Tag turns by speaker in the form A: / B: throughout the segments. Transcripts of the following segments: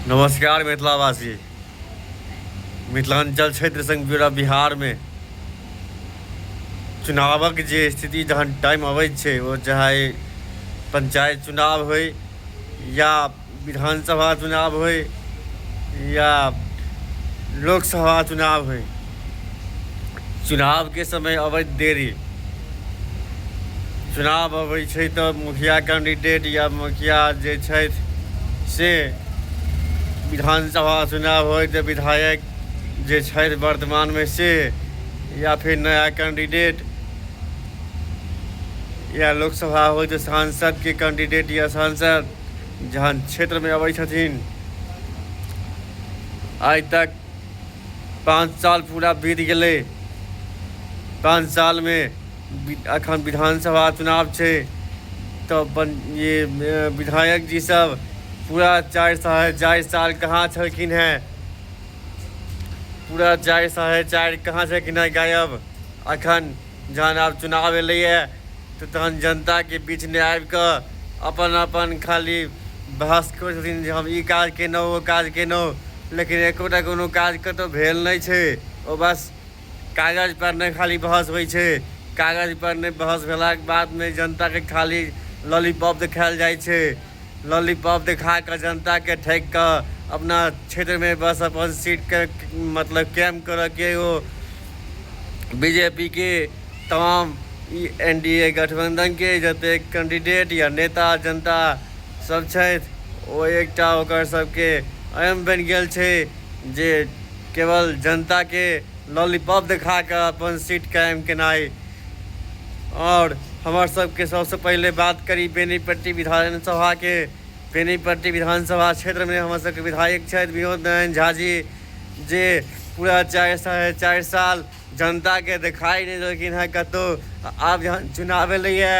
A: नमस्कार मिथिलावासी मिथिलांचल क्षेत्र संग पूरा बिहार में चुनावक जे स्थिति जहन टाइम अबै छै ओ चाहे पंचायत चुनाव हो या विधानसभा चुनाव हो या लोकसभा चुनाव हो चुनावके समय अबैत देरी चुनाव अबै छै तऽ मुखिया कैंडिडेट या मुखिया जे छथि से विधानसभा चुनाव होय तऽ विधायक जे छथि वर्तमानमे से या फिर नया कैंडिडेट या लोकसभा होय तऽ सांसदके कैंडिडेट या सांसद जहन क्षेत्रमे अबै छथिन आइ तक पाँच साल पूरा बीत गेलै पाँच सालमे एखन विधानसभा चुनाव छै तऽ बन ये विधायक जी सब पूरा चारि साढ़े चारि साल कहाँ छलखिन हैं पूरा चारि साढ़े चारि कहाँ छलखिन हैं गायब एखन जहन आब चुनाव एलैए तऽ तहन जनताके बीचमे आबि कऽ अपन अपन खाली बहस करै छथिन जे हम ई काज केलहुँ ओ काज केलहुँ लेकिन एकोटा कोनो काज कतहु भेल नहि छै ओ बस कागजपर नहि खाली बहस होइ छै कागजपर नहि बहस भेलाके बादमे जनताके खाली लॉलीपॉप देखायल जाइ छै लॉलीपॉप देखा कऽ जनताके ठकि कऽ अपना क्षेत्रमे बस अपन सीटके मतलब कैम्प करयके ओ बीजेपी के तमाम एनडीए गठबंधन के जतेक कैंडिडेट या नेता जनता सब छथि ओ एकटा ओकर सबके एम बनि गेल छै जे केवल जनता के लॉलीपॉप देखा कऽ अपन सीट कायम केनाइ आओर हमर सबके सबसँ पहिले बात करी बेनीपट्टी विधानसभा के बेनीपट्टी विधानसभा क्षेत्र मे हमर सबके विधायक छथि विनोद नारायण झा जी जे पूरा चारि साढ़े चारि साल जनताके देखाइ नहि देलखिन हेँ कतहु आब जहन चुनाव एलैए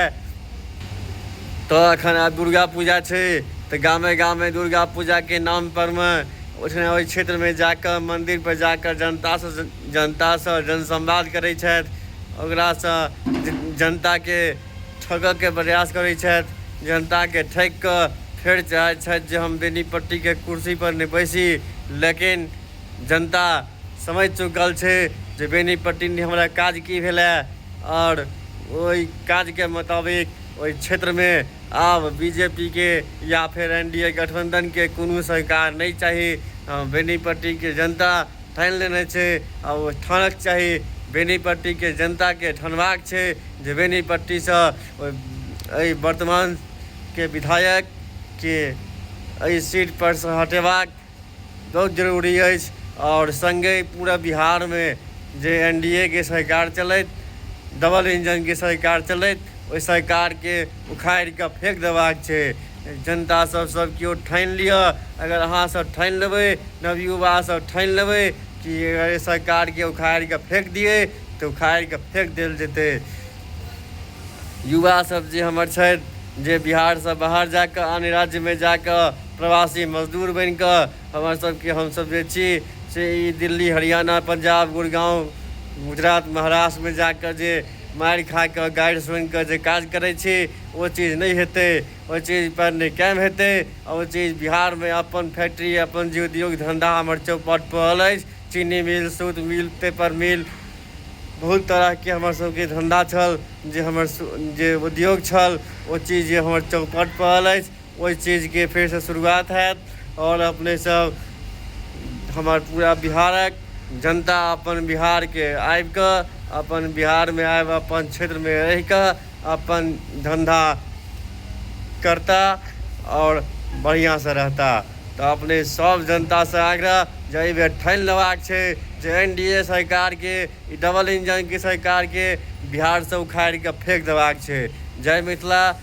A: तऽ एखन आब दुर्गा पूजा छै तऽ गामे गामे दुर्गा पूजाके नामपरमे ओहिठाम ओहि क्षेत्रमे जा कऽ मन्दिरपर जा कऽ जनतासँ जनतासँ जनसंवाद करै छथि ओकरासँ जनताके ठगकके प्रयास करै छथि। जनताके ठकि कऽ फेर चाहै छथि जे हम बेनीपट्टीके कुर्सी पर नहि बैसी। लेकिन जनता समझि चुकल छै जे बेनीपट्टी नहि हमरा काज की भेलए आओर ओहि काजके मोताबिक ओहि क्षेत्रमे आब बीजेपीके या फेर एनडीए गठबंधनके कोनो सरकार नहि चाही। बेनीपट्टीके जनता ठानि लेने छै आ ओ ठानक चाही बेनीपट्टीके जनताके ठानबाक छै जे बेनीपट्टीसँ एहि वर्तमानके विधायकके एहि सीटपरसँ हटेबाक बहुत जरूरी अछि आओर सङ्गे पूरा बिहारमे जे एन डी ए के सरकार चलथि डबल इंजनके सरकार चलथि ओहि सरकारके उखाड़ि कऽ फेंक देबाक छै जनता सब सब केओ ठानि लिअ अगर अहाँ सब ठानि लेबै नवयुवा सब ठानि लेबै कि अगर एहि सरकारके उखाड़ि कऽ फेंक दियै तऽ उखाड़ि कऽ फेंक देल जेतै युवा सब जे हमर छथि जे बिहारसँ बाहर जा कऽ अन्य राज्यमे जा कऽ प्रवासी मजदूर बनि कऽ हमर सबके हमसब जे छी से ई दिल्ली हरियाणा पंजाब गुड़गाँव गुजरात महाराष्ट्रमे जा कऽ जे मारि खा कऽ गारि सुनि कऽ जे काज करै छी ओ चीज नहि हेतै ओ चीज पर नहि कायम हेतै आ ओ चीज बिहारमे अपन फैक्ट्री अपन जे उद्योग धंधा हमर चौपट पड़ल अछि चीनी मिल सूत मिल पेपर मिल बहुत तरहके हमर सबके धंधा छल जे हमर जे उद्योग छल ओ चीज जे हमर चौपट पड़ल अछि ओहि चीजके फेरसँ शुरुआत हैत आओर अपने सब हमर पूरा बिहारक जनता अपन बिहारके आबि कऽ अपन बिहारमे आबि अपन क्षेत्रमे रहि कऽ अपन धन्धा करता आओर बढ़िआँसँ रहता तऽ अपने सब जनतासँ आग्रह जे एहि बेर ठानि लेबाक छै जे एन डी ए सरकारके ई डबल इंजनके सरकारके बिहारसँ उखाड़ि कऽ फेक देबाक छै जय मिथिला